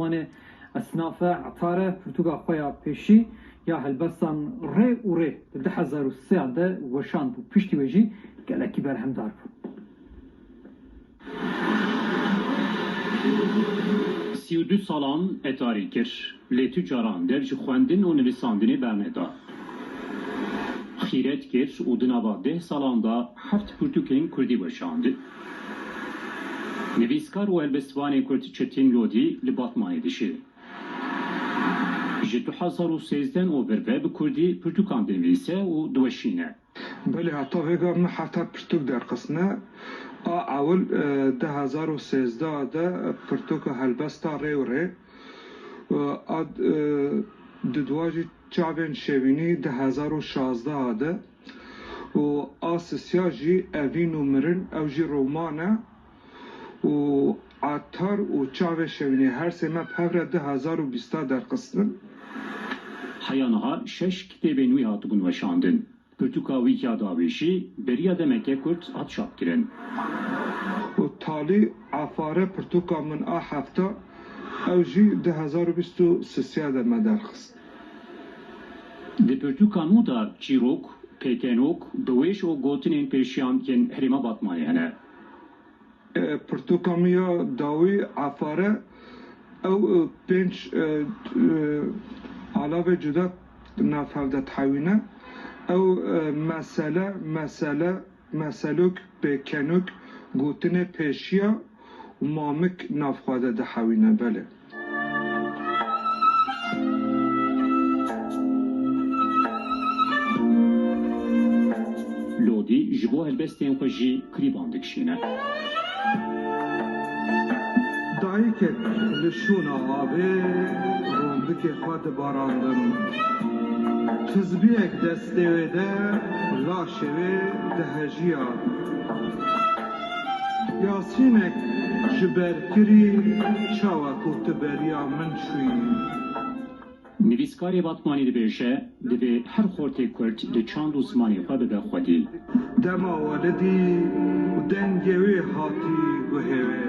Wanê esnafe etare pirtûka xwe ya pêşî ya helbestan rê û rê di du hezar û sê de weşand û piştî wê jî gelekî berhemdar bû. Sî û du salan etarî kir lê tu caran dev ji xwendin û nivîsandinê berneda. Xîret kir û di nava deh salan de heft pirtûkên kurdî weşand. Nivîskar û helbestvanê Kurd Çetin Lodî li Batmanê dijî. Ji du hezar û sêzdeh û vir ve bi kurdî pirtûkan dinivîse û diweşîne. Belê heta vêga min heta pirtûk derxistine a ewil du hezar û sêzdeh de pirtûka Helbesta Rê û Rê a dudwa jî çavên şêwînî du hezar û şazdeh de. û a sisya jî evîn û mirin ew jî roman e û Etar û Çavê Şewînê her sê me bi hevre du hezar û bîst a derxistin. Heya niha şeş kitêbên wî hatibûn weşandin. Pirtûka Wîkîa Dawê jî beriya demeke kurt hat çapkirin. Û Talî Efare Pirtûka Min a Hefta ew jî du hezar û bîst û sisya de me derxist. Di pirtûka nû de çîrok, pêkenok, biwêş û gotinên pêşiyan yên herêma Batmanê hene. Pirtûka nû ya dawî Efar e. Ew pênc alavê cuda navhev de dihewîne. Ew mesele, mesele. Meselûk, pêkenûk, gotinê pêşiya û mamik nav xwe de dihewîne. Belê. Lodî ji bo helbestên xwe jî klîban dikişîne. Dayikek li şûna avê rondikê xwe dibarandin. Tizbiyek dest. Stêwê de la şevê dihejîya. Yasînek ji ber kirî çawa ku tu beriya min çûyî. Nivîskarê Batmanî dibêje, Divê her xortê kurd di çand û zimanê xwe bibe xwedî. Dema welidî û dengê wê hatî guhê wê.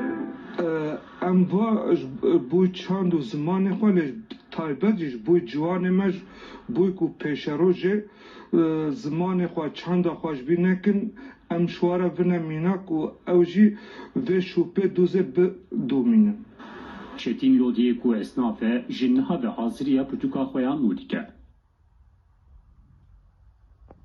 Em va ji bo çand û zimanê xwe lê taybet jî ji bo ciwanê me ji bo ku pêşerojê zimanê xwe, çanda xwe ji bîr nekin em şware vine mînak û ew jî vê şûpê dûzê bidomînin. Çetîn Lodiyê ku esnaf e ji niha ve haziriya pirtûka xwe ya nû dike.